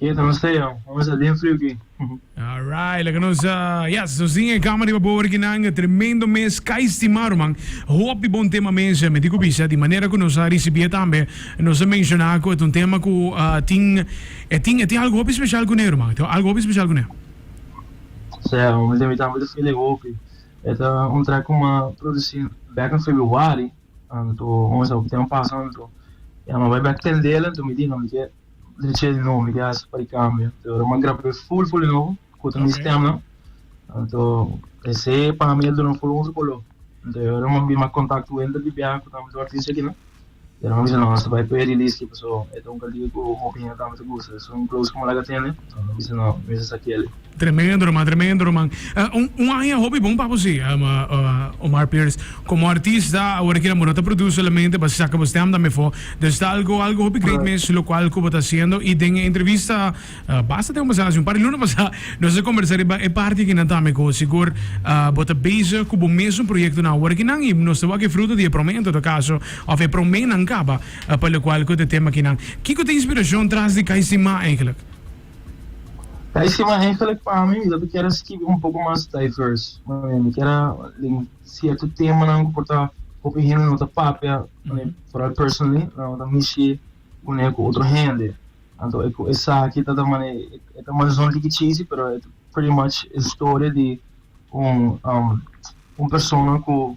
Keda ta nos ey aun. Nos a den friu ki. Alright, laga nos yes nos tin e kama riba bobo rikinan. Tremendo mes ka estima ruman. Hopi bon tema mes mi tin ku bisa di manera ku nos a risibi'e tambe nos a menshona ku e ta un tema ku tin e tin e tin algu hopi speshal kuné ruman. E tin algu hopi speshal kuné. Sea aun mi tambe ta feel e hopi. E ta un trek ku mi a produsi bek na febuari anto nos a hopi tempo pasa anto ya mi a bai bek tendel anto mi di no mi ke Di che nombre que hace para cambio. Te ora man grabé full full no kuta mi stem no. Anto ese para mí el duna full un sukolo. Te ora man bi mak contact ku enter di bia kuta mi dorti se kina. Te ora man bisa no hasta bai pay release ki paso eta un kantiga ku hopi hende tambe ta gusta. So un close ku malaga tende. Tremendo man tremendo man un aña hopi bon pa bo si Omar Pires como artista awor aki bo no ta produce solamente basi saca bo stem tambe afo dus ta algo algo hopi great mes lo cual cu bo ta haciendo y den e entrevista basta tempo pasado haci un par di luna pasa nos a conversa riba e parti akinan tambe cu sigur bo ta bezig cu bo mesun proyectonan awor aki nan y nos ta wak e fruto di e prome en todo caso of e promenan caba. A Pa lokual ku ta tema akinan, kiko ta inspirashon tras di kai sin ma eigenlik? Kai sin ma eigenlik pa mi mi ta kier a skibi un poko mas diverse manera. Mi kier a den sierto temanan ku por ta hopi hende no ta papia foral personally nan ta mishi kuné ku otro hende. Anto e ku esaki ta ta mane e ta manzon tikichisi pero e ta pretty much historia di un un persona ku.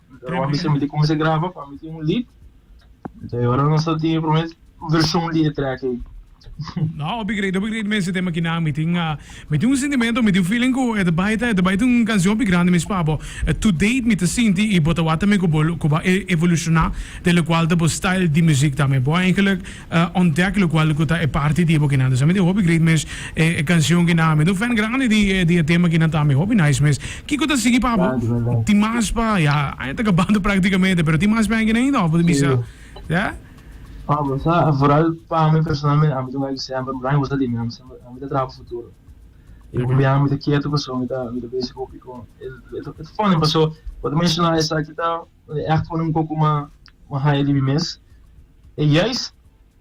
Pero mi siempre como se graba para meter un lead. Entonces ahora no está tiene primer versión de track ahí. No, obi great, obi great mensen tema kina mi tin uh, mi tin un sentimento, mi tin feeling ku e ta baita, e ta baita un kansion obi grande mes pa bo. Eh, to date mi ta sinti i bo ta wak tambe ku bo ku bo a evolushona, de lo kual ta bo style di muzik tambe. Bo a enkelek a ontdek lokual ku ta e parti di e bokinan. Dus a mi tin hopi great mes e e kanshon kinan. A mi ta un fèn grandi di e di e tema kinan ta. A mi hopi nice mes. Kiko ta sigui pa bo? Tin mas pa, ya aña ta kabando praktikamente, pero tin mas pa henki ainda òf bo ta bisa? Ya. Pa bo sa, en foral pa mi personalmente, a mi ta wak di semper, mi ta haña boso limi, a mi semper, a mi ta traha pa futuro. E hopi biaha mi ta ketu paso mi ta mi ta besi hopi kon el, el ta funny paso bo ta menshona esaki ta. E act pone un poco ma haya di mi mes. E juist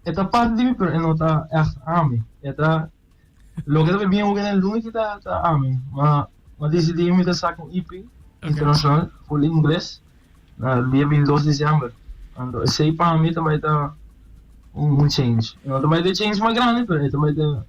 e ta parti di mi pero e no ta act ami. E ta loke ta bien hopi den luna ki ta ami. Ma ma decidi mi ta saca un EP internacional full ingles na dia binti dos diciember. Anto esey pa mi ta bay ta un change. E no ta bay ta e change mas grandi pero e ta bay ta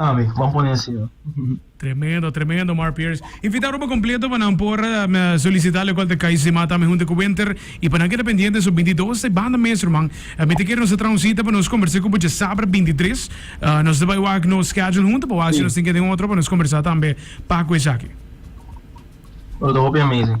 Ambi, bon pone así no. Tremendo, tremendo Mark Pierce. Invita roba completo pa nan por solicita locual ta Kai's de Mata ami hunte cu Winter y pa nan que ta pendiente so binti dos ta e banda mes ruman. Mi ta kere nos ta traha un cita pa nos conversa cu bocha sabra binti tres. Nos ta bai wak nos schedule hunto pa wak si nos tin ke den otro pa nos conversa tambe pacu esaki. Lo ta hopi amazing.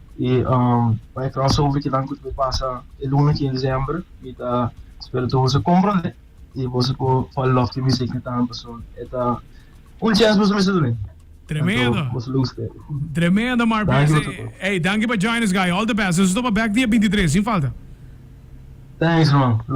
I pa e causa hopi kinan cu ta por pasa e luna quince diciember mi ta spera tur boso comprende y boso por fall love cu music mi tambe paso e ta un chance boso mester ta bini Tremendo. anto boso lo guste. Tremendo Mark Danki Best. broer. Ey, danki pa join us guy. All the best. Nos ta topa back dia binti tres sin falta. Thanks man. Love.